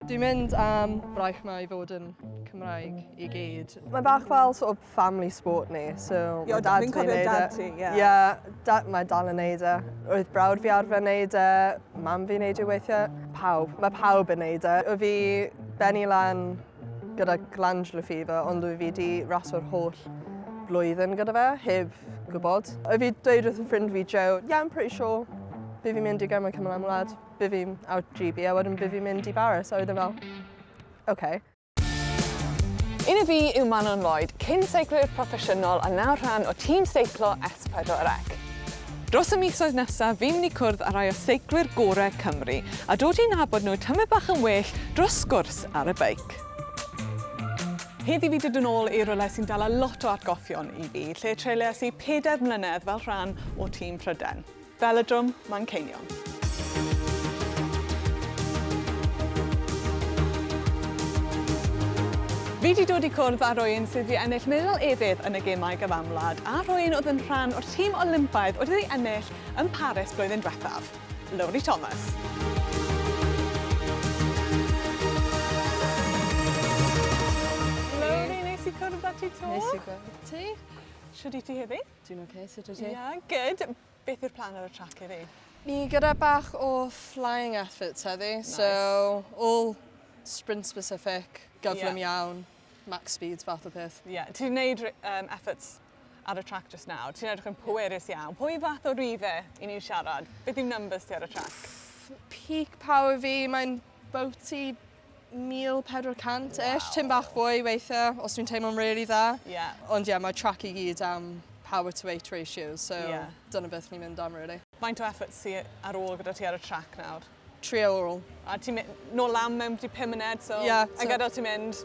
Dwi'n mynd am braich mae i fod yn Cymraeg i gyd. Mae bach fel sort of family sport ni, so mae dad fi'n gwneud e. Fi'n cofio dad ti, ie. Ie, mae dal yn gwneud e. Roedd brawd fi arfer wneud e, mam fi'n gwneud e weithiau. Pawb, mae pawb yn wneud e. O fi benni lan gyda glandular fever, ond dwi fi di raso'r holl blwyddyn gyda fe, heb gwybod. O fi dweud wrth fy ffrind fi, Joe, yeah, I'm pretty sure, fi fi'n mynd i Gemau Cymru am wlad. By fi'n out GB a wedyn by fi'n mynd i Baris. A oedd e fel, oce. Okay. Un o fi yw Manon Lloyd, cyn seiclwyr proffesiynol a nawr rhan o tîm seiclo S4C. Dros y misoedd nesaf, fi'n mynd i cwrdd â rhai o seiclwyr gorau Cymru a dod i'n nabod nhw tymau bach yn well dros sgwrs ar y beic. Heddi fi dydyn ôl i rwle sy'n dala lot o atgoffion i fi, lle treileas i pedair mlynedd fel rhan o tîm Pryden. Velodrome Manceinion. Fi 'di dod i cwrdd â rhywun sydd wedi ennill medal efydd yn y Gemau Gyfanwlad a rhywun oedd yn rhan o'r tîm Olympaidd oedd wedi ennill yn Paris blwyddyn diwethaf, Lowri Thomas. Lowri, neis i cwrdd â ti 'to. Neis i gweld ti. Shwd i ti heddi? Dwi'n ok, sut wyt ti? Ia, good. Beth yw'r plan ar y trac heddi? Ni gyda bach o flying efforts heddi, nice. so all sprint specific, gyflym yeah. iawn, max speeds fath o peth. Ie, yeah. ti'n gwneud um, efforts ar y trac just nawr, ti'n edrych yn pwerus iawn. Pwy fath o rife i ni'n siarad? Beth yw numbers ti ar y trac? Peak power fi, mae'n bouty 1400 ish, wow. tim bach fwy weithiau os dwi'n teimlo'n really dda. Yeah. Ond ie, yeah, mae track i gyd am power to weight ratio, so yeah. dyna beth ni'n mynd am really. Faint o effort ti ar ôl gyda ti ar y track nawr? Tri awr. A ti'n mynd nôl lam mewn 5 munud, so yeah, so... a gadael ti'n mynd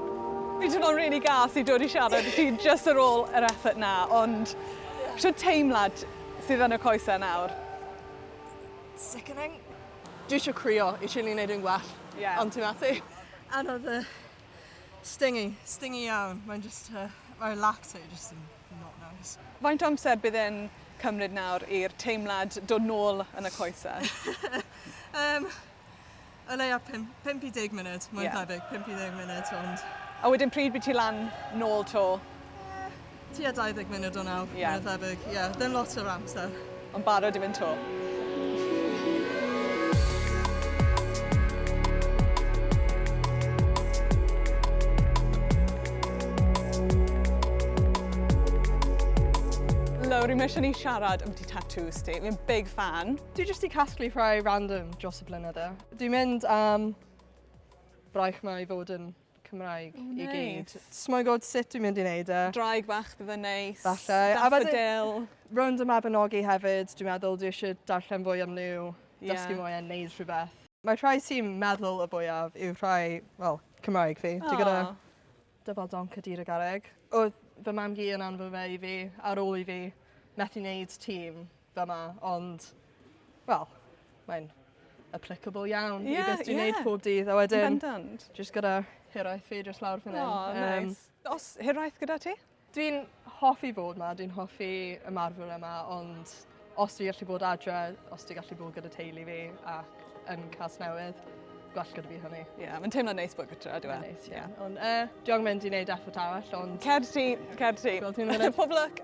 Fi'n teimlo'n rili gas i dod i siarad i ti jyst ar ôl yr effort 'na, ond shwt teimlad sydd yn y coesau nawr? Sickening. Dwi isio crio i Chile neud yn gwell. Ie. Ond ti methu. Anodd yy stingy, stingy iawn. Mae'n jyst yy mae'r lacto jyst yn not nice. Faint o amser bydd e'n cymryd nawr i'r teimlad dod nôl yn y coesau? Yym O leia pum- pump i deg munud, mwy na Ie. thebyg, pump i ddeg munud, ond... A wedyn pryd by' ti lan nôl 'to? Yy, tua dau ddeg munud o nawr, Ie. mwy na thebyg, ie, ddim lot o'r amser. Ond barod i fynd 'to? Lowri, mae isie ni siarad ambyti tatŵs ti. Fi'n big fan. Dwi jyst i casglu rhai random dros y blynydde. Dwi'n mynd am braich mae i fod yn Cymraeg oh, nice. i gyd. Smoi god sut dwi'n mynd i wneud e. Draig bach bydd yn neis. Falle. Daffodil. Rownd y Mabinogi hefyd, dwi'n meddwl dwi eisiau darllen fwy am nhw, yeah. dysgu mwy a wneud rhywbeth. Mae rhai sy'n meddwl y fwyaf yw rhai, wel, Cymraeg fi. Dwi gyda Dyfal donc a dir y garreg. Oedd fy mam-gu yn anfon fe i fi ar ôl i fi methu wneud tîm fa' 'ma ond wel mae'n applicable iawn... Ie ie. ...i beth dwi'n neud pob dydd a wedyn... Yn bendant. ...jyst gyda hiraeth fi jyst lawr fan 'yn. O neis. Yym. O's hiraeth gyda ti? Dwi'n hoffi bod ma, dwi'n hoffi ymarfer yma, ond os dwi gallu bod adre, os dwi gallu bod gyda teulu fi ac yn Casnewydd, gwell gyda fi hynny. Ie, yeah, mae'n teimlo neis bod gytra, dwi'n meddwl. Neis, ie. Yeah. Ond, uh, dwi'n mynd i wneud effort arall, ond... Cer ti, cer ti. Pob lwc.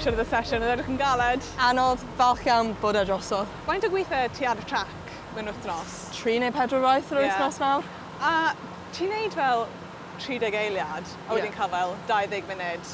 siarad y sesiwn, oedd edrych yn galed. Anodd, falch iawn bod e drosodd. Faint o gweithe ti ar y trac mewn wythnos? Tri neu pedwar waith yr yeah. wythnos nawr. A ti'n neud fel 30 eiliad, a wedyn yeah. cael fel 20 munud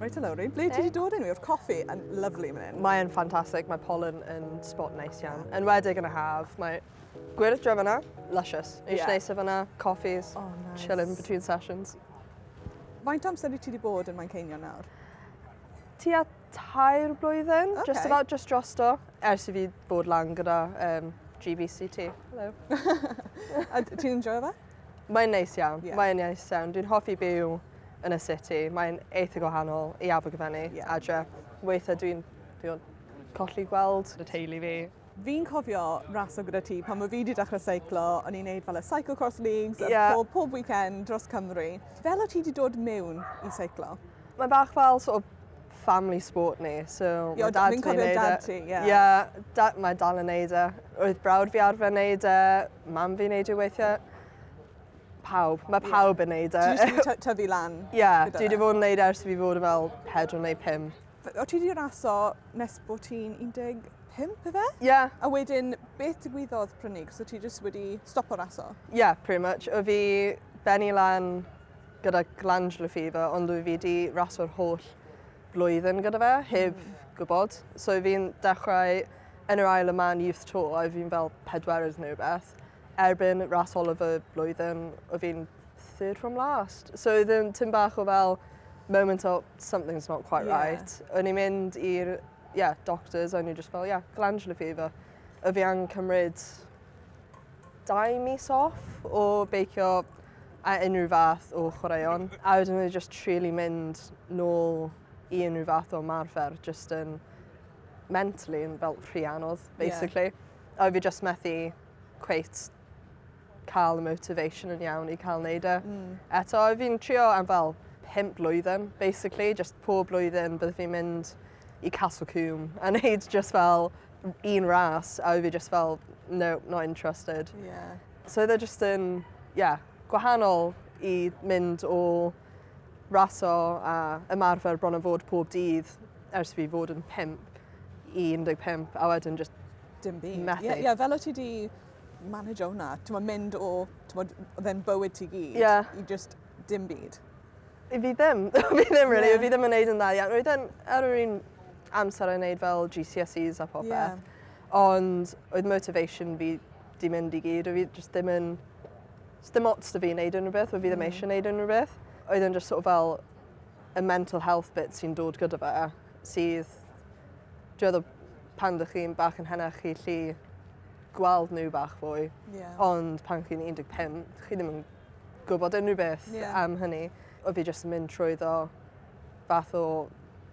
Reit o lowri, ble ti wedi dod enw i? Oedd coffi yn lyflu mynd hyn. Mae'n ffantastig, mae pollen yn spot neis iawn. Yn wedig yn y haf, mae gwyrdd dre fyna, luscious. Eisiau yeah. neisau fyna, coffees, oh, nice. chilling between sessions. Faint amser i ti wedi bod yn Manceinion nawr? Ti a tair blwyddyn, okay. just about just drosto, ers i fi bod lan gyda um, GBCT. Hello. a ti'n enjoy fe? Mae'n neis iawn. Yeah. Mae'n neis iawn. Dwi'n hoffi byw yn y city. Mae'n eitha gwahanol i Abergavenny, yeah. adre. Weithiau dwi'n dwi colli gweld y teulu fi. Fi'n cofio raso gyda ti pan mae fi wedi dechrau seiclo, o'n i'n neud fel y Cycle Cross Leagues yeah. pob, pob weekend dros Cymru. Fel o ti wedi dod mewn i seiclo? Mae bach fel sort of family sport ni. So, mae dad fi'n cofio dad ti, ie. Yeah. yeah, da, mae dal yn neud e. Roedd brawd fi arfer neud e, mam fi'n neud e weithiau. Pawb, mae pawb yeah. yn neud e. Ti wedi tyfu lan? Ie, yeah, dwi wedi fod yn neud e ers fi fod yn fel 4 neu 5. O ti wedi raso nes bod ti'n 10 pimp efe? Ie. Yeah. A wedyn, beth digwyddodd prynig? So ti jyst wedi stopo raso? Ie, yeah, pretty much. O fi benni lan gyda glandular fever ond dwi wedi raso'r holl flwyddyn gyda fe heb gwybod. So fi'n dechrau yn yr ail y man youth tour a fi'n fel pedwerydd neu rhywbeth. Erbyn ras ola fy blwyddyn o fi'n third from last. So oedd yn tyn bach o fel moment o something's not quite yeah. right. O'n i'n mynd i'r yeah, doctors o'n i just fel yeah, glandular fever. A fi angen cymryd dau mis off o beicio a unrhyw fath o chwaraeon, a wedyn oedd e jyst rili mynd nôl i unrhyw fath o ymarfer, jyst yn mentally yn fel rhy anodd, basically. Yeah. A oedd fi jyst methu cweit cael y motivation yn iawn i cael neud e. Mm. Eto, oedd fi'n trio am fel pimp blwyddyn, basically, jyst pob blwyddyn bydd fi'n mynd i Castle Coombe a neud jyst fel un ras, a oedd fi jyst fel, no, not interested. Yeah. So oedd e jyst yn, ie, gwahanol i mynd o raso a ymarfer bron a fod pob dydd ers fi fod yn 5 i 15 a wedyn jyst Dim byd. Methu. Ie, ie, fel o ti di manager hwnna, ti'n modd mynd o, ti'n modd, oedd e'n bywyd ti gyd, Ie. i just dim byd. I fi ddim. fi ddim, really. Ie. Fi ddim yn neud yn dda iawn. Roedd e'n ar yr un amser yn neud fel GCSEs a popeth. Yeah. Ond oedd motivation fi 'di mynd i gyd o' fi jyst dim yn sdim ots 'da fi neud unryw beth o' fi ddim eisiau neud unryw beth. Oedd e'n jyst sort of fel y mental health bit sy'n dod gyda fe sydd dwi meddwl pan dych chi'n bach yn henach chi 'llu gweld n'w bach fwy. Ie. Ond pan chi'n un deg pump chi ddim yn gwbod unrhyw beth... Ie. ...am hynny. O' fi jyst yn mynd trwyddo fath o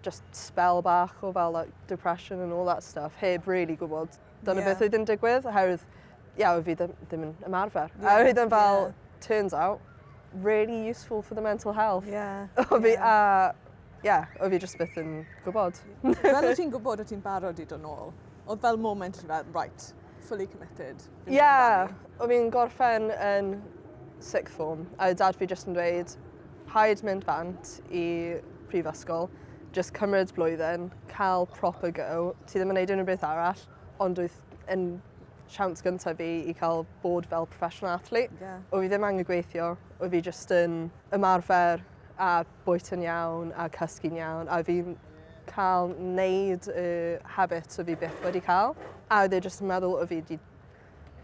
jyst sbel bach o fel like depression and all that stuff heb rili gwbod dyna beth oedd yn digwydd, oherwydd, ie, yeah, fi ddim, ddim yn ymarfer. Yeah. A oedd yn fel, yeah. turns out, really useful for the mental health. Yeah. o fi, yeah. a, yeah, o fi jyst byth yn gwybod. Fel o ti'n gwybod o ti'n barod i dod nôl, oedd fel moment i fel, right, fully committed. Ie, yeah. o fi'n gorffen yn sixth form, a dad fi jyst yn dweud, rhaid mynd bant i prifysgol, just cymryd blwyddyn, cael proper go, Ti ddim yn wneud unrhyw beth arall ond wyt yn siawns gyntaf fi i cael bod fel professional athlete. Yeah. O fi ddim angen gweithio, o fi jyst yn ymarfer a bwyta'n iawn a cysgu'n iawn a fi'n cael wneud y habits o fi byth wedi cael. A oedd e jyst yn meddwl o fi di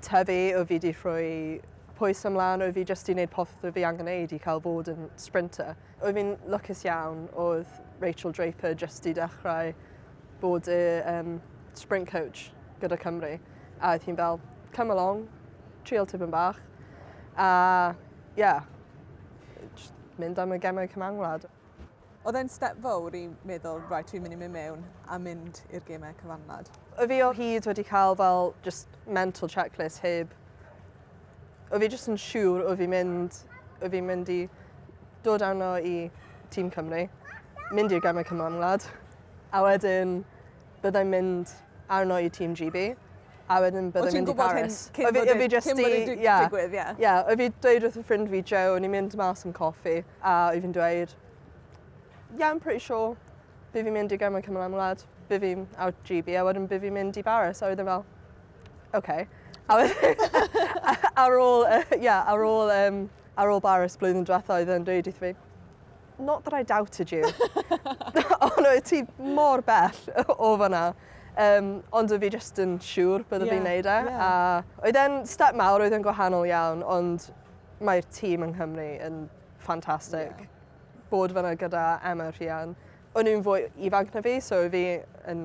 tyfu, oedd fi wedi rhoi pwys ymlaen, oedd fi jyst wedi gwneud popeth oedd fi angen gwneud i cael fod yn sprinter. Oedd fi'n lwcus iawn, oedd Rachel Draper jyst wedi dechrau bod y um, sprint coach gyda Cymru. A oedd hi'n fel, come along, trial tipyn bach. A, ie, yeah, mynd am y gemau cymanwlad. Oedd e'n step fawr i meddwl, right, fi'n mynd i mynd mewn a mynd i'r gemau cyfanlad? O fi o hyd wedi cael fel just mental checklist heb... O fi just yn siŵr o fi mynd, o fi mynd i dod arno i Tîm Cymru, mynd i'r gemau cyfanlad, a wedyn byddai'n mynd arno i Team GB, a wedyn byddai'n mynd i Paris. O ti'n gwybod hyn cyn bod wedi digwydd, ie? Ie, o fi dweud wrth y ffrind fi, Joe, ni'n mynd mas yn coffi, a o fi'n dweud, yeah, I'm pretty sure, bydd fi'n mynd i gael mewn cymryd am wlad, bydd fi'n out GB, a wedyn bydd fi'n mynd i Paris, a wedyn fel, okay. A ar ôl, ie, ar ôl, um, ar ôl Paris blwyddyn diwetha oedd e'n dweud wrth fi, not that I doubted you. Ond oedd ti mor bell o fanna. Um, ond oedd fi just yn siŵr bydde yeah, fi'n neud e. Yeah. A oedd e'n step mawr, oedd e'n gwahanol iawn, ond mae'r tîm yng Nghymru yn ffantastig. Yeah. Bod fanna gyda Emma Rhian. O'n nhw'n fwy ifanc na fi, so fi yn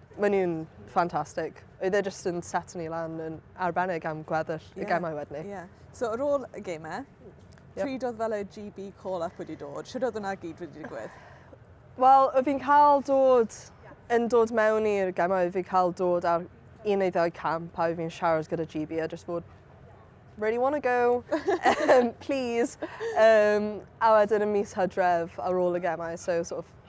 Maen nhw'n ffantastig. Oedd e jyst yn set ni lan yn arbennig am gweddill yeah. y gemau wedyn ni. Yeah. So ar ôl y gemau, yep. pryd oedd fel y GB call-up wedi dod? Sut oedd hwnna gyd wedi digwydd? Wel, oedd fi'n cael dod yn dod mewn i'r gemau, oedd fi'n cael dod ar un neu ddau camp a oedd fi'n siarad gyda GB a jyst bod really want to go, um, please. Um, a wedyn y mis hydref ar ôl y gemau, so sort of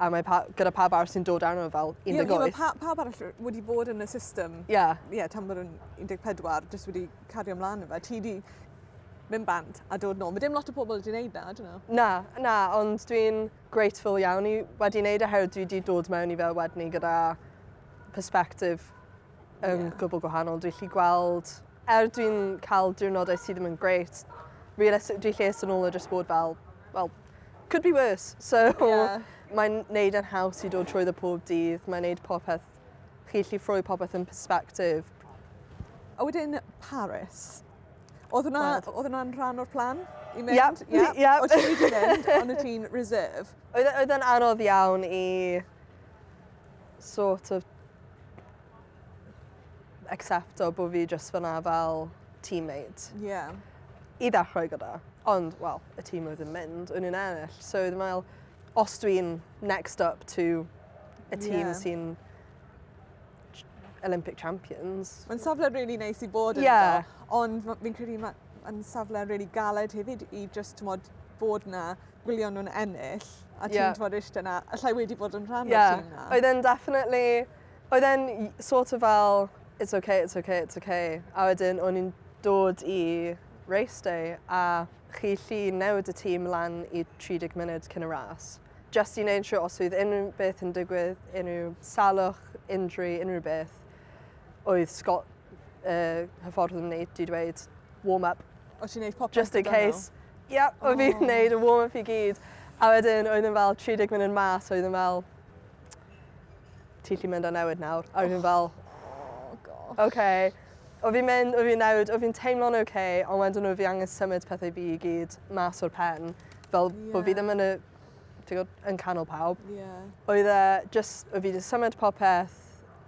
A mae pa, gyda pawb arall sy'n dod arno fel 18. Ie, yeah, pa, pawb arall wedi bod yn y system. Ie. Yeah. Ie, yeah, tan bod yn 14, jyst wedi cario ymlaen efo. Ti wedi mynd bant a dod nôl. Mae dim lot o pobl wedi gwneud na, dyn nhw? Na, na, ond dwi'n grateful iawn i wedi gwneud oherwydd dwi wedi dod mewn i fel wedyn ni gyda perspective yn yeah. gwbl gwahanol. Dwi'n lli gweld Er dwi'n cael diwrnodau sydd ddim yn great, realistic- dwi lles yn ôl o jyst bod fel, wel, could be worse. So yeah. mae'n neud yn haws i dod trwy ddo pob dydd, mae'n neud popeth, chi allu ffroi popeth yn perspective. A wedyn Paris. Oedd hwnna'n rhan o'r plan i mynd? Yep, yep. yep. Oedd ti'n wedi mynd, ond y ti'n reserve? Oedd e'n anodd iawn i sort of acsepto bo' fi jyst fynna fel teammate. Ie. I ddechrau gyda. Ond, wel, y tîm oedd yn mynd, o'n i'n ennill. So o'n i'n meddwl, os dwi'n next up to y tîm yeah. sy'n Olympic champions. Mae'n safle rili really neis i bod yn yeah. ond fi'n credu mae'n safle rili really galed hefyd i just tmod, bod na gwylio nhw'n ennill a ti'n yeah. tmod eistedd na, allai wedi bod yn rhan yeah. o'r tîm na. Oedd e'n definitely Oedd e'n sort of fel it's ok, it's ok, it's ok a wedyn o'n i'n dod i race day a chi 'llu newid y tîm lan i 30 munud cyn y ras. Jyst i neud siwr os oedd unrhyw beth yn digwydd, unrhyw salwch, injury, unrhyw beth, oedd Scott uh, hyffordd yn neud i dweud warm up. Oedd ti'n neud popeth? Just in case. Ie, yeah, oedd oh. fi'n neud y warm up i gyd. A wedyn oedd yn fel 30 munud mas, oedd yn fel ti gallu mynd a newid nawr. A oedd yn fel, oh gosh. Okay. O fi'n mynd, o fi'n newid, o fi'n teimlo'n oce, okay, ond wedyn o fi angen symud pethau fi i gyd mas o'r pen. Fel yeah. bod fi ddim yn y, gwybod, yn canol pawb. Yeah. Oedd e, just, o fi wedi symud popeth,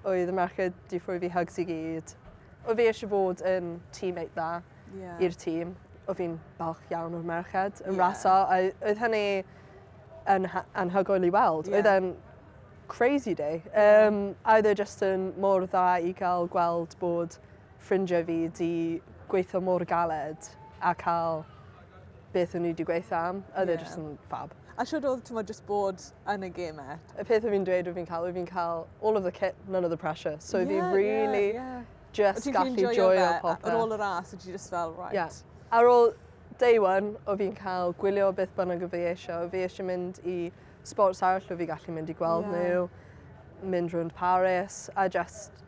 oedd y merched di ffrwy fi hugs i gyd. O fi eisiau bod yn teammate dda yeah. i'r tîm. O fi'n balch iawn o'r merched yn yeah. raso. Oedd hynny yn anhygoel i weld. Yeah. Oedd e'n crazy day. Um, a oedd e just yn mor dda i gael gweld bod ffrindiau fi di gweithio mor galed a cael beth o'n i wedi gweithio am. Oedd e yeah. e just yn fab. A siwr oedd ti'n just bod yn y game e? Y peth o fi'n dweud o fi'n cael, o fi'n cael all of the kit, none of the pressure. So yeah, fi really... Yeah, yeah. just gallu joio popeth. Ar ôl y ras, ydy just fel, right. Yeah. Ar ôl day one, o fi'n cael gwylio beth bynnag o fi eisiau. O fi eisiau mynd i sports arall, o fi gallu mynd i gweld yeah. nhw, mynd rhwnd Paris, a just,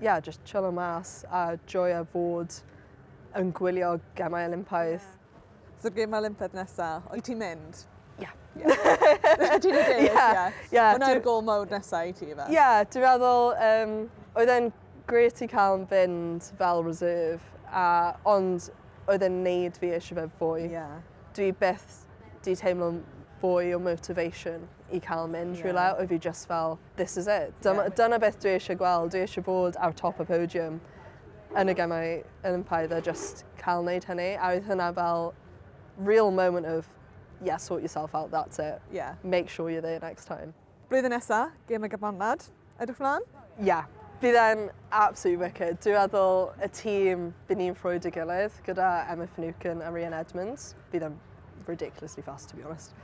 yeah, just chill o mas, a joio fod yn gwylio gemau Olympaidd. Yeah. So gêm Olympedd nesa, wyt ti'n mynd? Ie. Wyt ti'n mynd? Ie. Hwna'r gol mawr nesa i ti fe? Ie, dwi'n meddwl, um, oedd e'n gret i cael yn fynd fel reserve, a, ond oedd e'n neud fi eisiau fe fwy. Yeah. Dwi beth di teimlo'n fwy o motivation. i cael mynd yeah. rhywle, oedd fi just fel, this is it. Dyma, yeah. dyna beth dwi eisiau gweld, dwi eisiau bod ar top y podium yn y gemau yn ympaidd a just cael wneud hynny. A oedd hynna fel real moment of, yeah, sort yourself out, that's it. Yeah. Make sure you're there next time. Blwyddyn nesa, gem y gyfamlad. Edrych mlaen? Ie. Bydd e'n absolutely wicked. Dwi'n meddwl y tîm bydd ni'n ffrwyd y gilydd gyda Emma Finucane a Rhian Edmonds. Bydd e'n ridiculously fast, to be honest.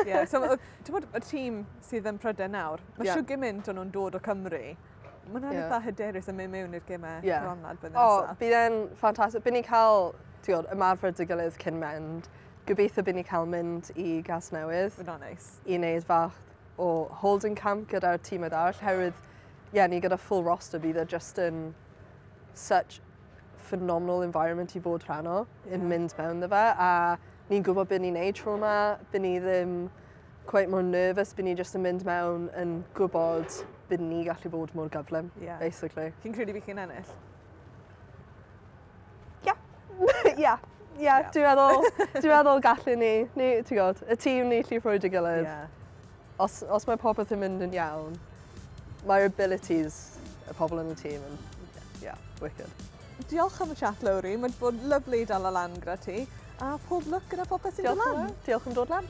yeah, so, ti'n bod, y tîm sydd yn Prydain nawr, mae yeah. siw gymaint o'n nhw'n dod o Cymru. Mae'n rhaid yeah. eitha hyderus yn mynd mewn i'r gymau yeah. gronlad bydd O, oh, bydd e'n ffantastig. Bydd ni'n cael, ti'n bod, ymarfer dy gilydd cyn mynd. Gobeithio bydd ni'n cael mynd i gas newydd. Fy'n o'n neis. I wneud fach o holding camp gyda'r tîmau arall, herwydd, ie, yeah, ni gyda full roster bydd e just yn such phenomenal environment i fod rhan o, yn yeah. mynd mewn dda fe, a ni'n gwybod beth ni'n neud tro yma, byd ni ddim quite more nervous, byd ni just yn mynd mewn yn gwybod byd ni gallu bod mor gyflym, yeah. basically. Chi'n credu fi chi'n ennill? Yep. Ie. Ie dwi meddwl dwi meddwl gallwn ni ni ti'n gwybod y tîm ni llu ffrwydio gilydd. Ie. Os os mae popeth yn mynd yn iawn mae'r abilities y pobl yn y tîm yn ie wicked. Diolch am y chat Lowri, mae'n bod lyflu i dal o lan gyda ti a pob lwc gyda popeth sy'n dod lan. Diolch am dod lan.